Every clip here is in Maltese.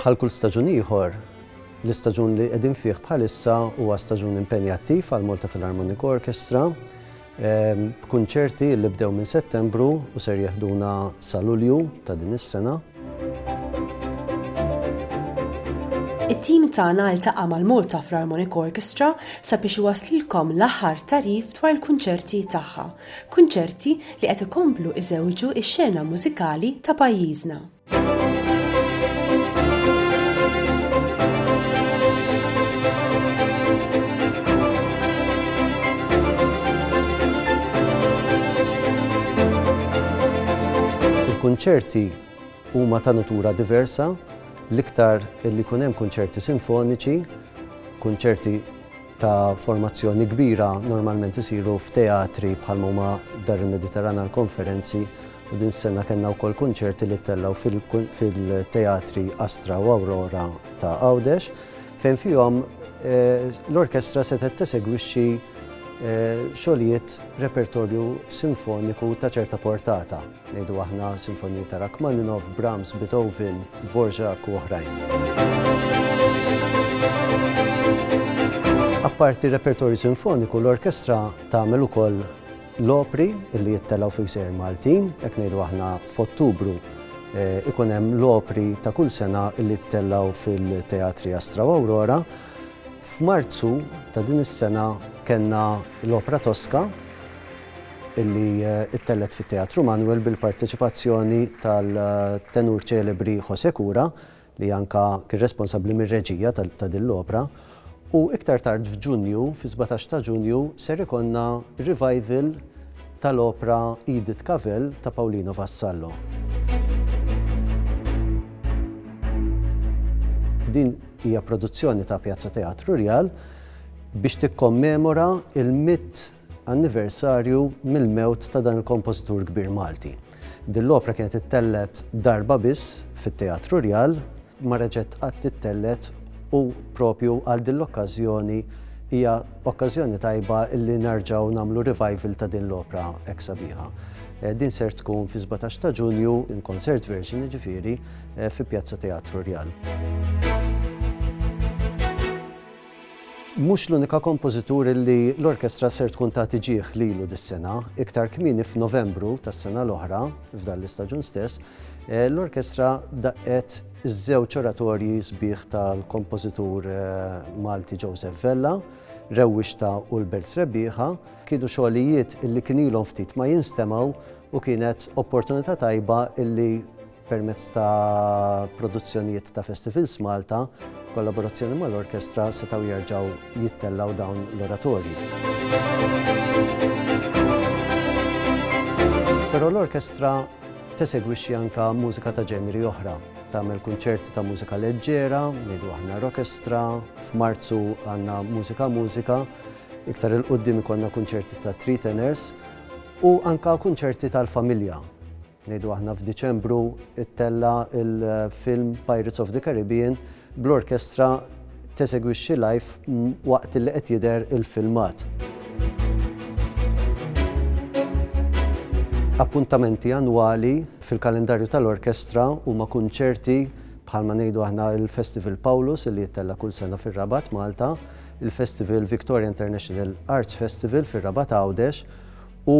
Bħal kull staġun ieħor, l-istaġun li qegħdin fih bħalissa huwa staġun impenjattiv għall-Malta Philharmonic Orchestra, b'kunċerti li bdew minn Settembru u ser jeħduna sa Lulju ta' din is-sena. It-tim tagħna ltaqa' mal-Malta Philharmonic Orchestra sabiex iwasslilkom l-aħħar tagħrif dwar il-kunċerti tagħha, kunċerti li qed ikomplu iżewġu x-xena mużikali ta' pajjiżna. Il-kunċerti huma ta' nutura diversa, l-iktar li jkun hemm kunċerti sinfoniċi, kunċerti ta' formazzjoni kbira normalment isiru f'teatri bħal huma Dar il-Mediterran għall-Konferenzi u din is-sena kellna wkoll kunċerti li ttellgħu fil-teatri Astra u Aurora ta' Għawdex. fejn fihom l-orkestra setgħet tesegwixxi xogħlijiet repertorju sinfoniku ta' ċerta portata, ngħidu aħna sinfoniji ta' Rachmaninoff, Brahms, Beethoven, Dvorak u oħrajn. Apparti repertorju sinfoniku, l-orkestra tagħmel ukoll L-opri li jittelgħu fi gżejjer Maltin, hekk ngħidu aħna f'Ottubru ikun hemm l-opri ta' kull sena li jittelgħu fil-Teatri Astra u Aurora. F'Marzu ta' din is-sena kellna l-opra Tosca illi ttellgħet fit-Teatru Manuel bil-parteċipazzjoni tal-tenur ċelebri José Cura li anke kien responsabbli mir-reġija ta' din l-opra, u iktar tard f'Ġunju, fis-sbatax ta' Ġunju, ser ikollna revival tal-opra Edith Cavell ta' Paolino Vassallo. Din hija produzzjoni ta' Piazza Teatru Rjal biex tikkommemora l-mitt anniversarju mill-mewt ta' dan il-kompożitur kbir Malti. Din l-opra kienet ittellgħet darba biss fit-Teatru Rjal, ma reġgħet qatt tittellgħet u proprju għal din l-okkażjoni hija okkażjoni tajba li nerġgħu nagħmlu revival ta' din l-opra hekk sabiħa. Din ser tkun fis-17 ta' Ġunju in concert version jiġifieri fi Pjazza Teatru Rjal. Mhux l-unika kompożitur li l-orkestra ser tkun tagħti ġieh lilu dis-sena. Iktar kmieni f'Novembru tas-sena l-oħra, f'dan l-istaġun stess, l-orkestra daqqet iż-żewġ oratorji sbieħ tal-kompożitur Malti Joseph Vella, Rewwixta u l-Belt Rebbieħa. Kienu xogħlijiet li kien ilhom ftit ma jinstemgħu u kienet opportunità tajba li Permezz ta' produzzjonijiet ta' Festivals Malta, b'kollaborazzjoni mal-orkestra setgħu jerġgħu jittellgħu dawn l-oratorji. Però l-orkestra tesegwixxi anke mużika ta' ġenri oħra, tagħmel kunċerti ta' mużika leġġera, ngħidu aħna rokestra, f'Marzu għandna mużika mużika, iktar il-qudiem ikollna kunċerti ta' three tenors u anke kunċerti tal-familja. ngħidu aħna f'Diċembru, ittella' l-film Pirates of the Caribbean bl-orkestra tesegwixxi live waqt li qed jidher il-filmat. Appuntamenti annwali fil-kalendarju tal-orkestra huma kunċerti bħalma ngħidu aħna l-Festival Pawlus li jittella' kull sena fir-Rabat, Malta, il-Festival Victoria International Arts Festival fir-Rabat Għawdex U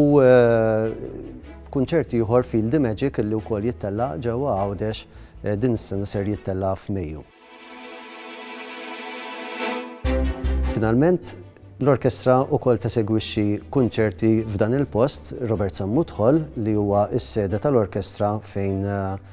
kunċert ieħor Feel the Magic li wkoll jittella' ġewwa Għawdex eh, din is-sena ser jittella' f'Mejju. Finalment, l-orkestra wkoll tesegwixxi kunċerti f'dan il-post Robert Sammutħol li huwa s-sede tal-orkestra fejn eh,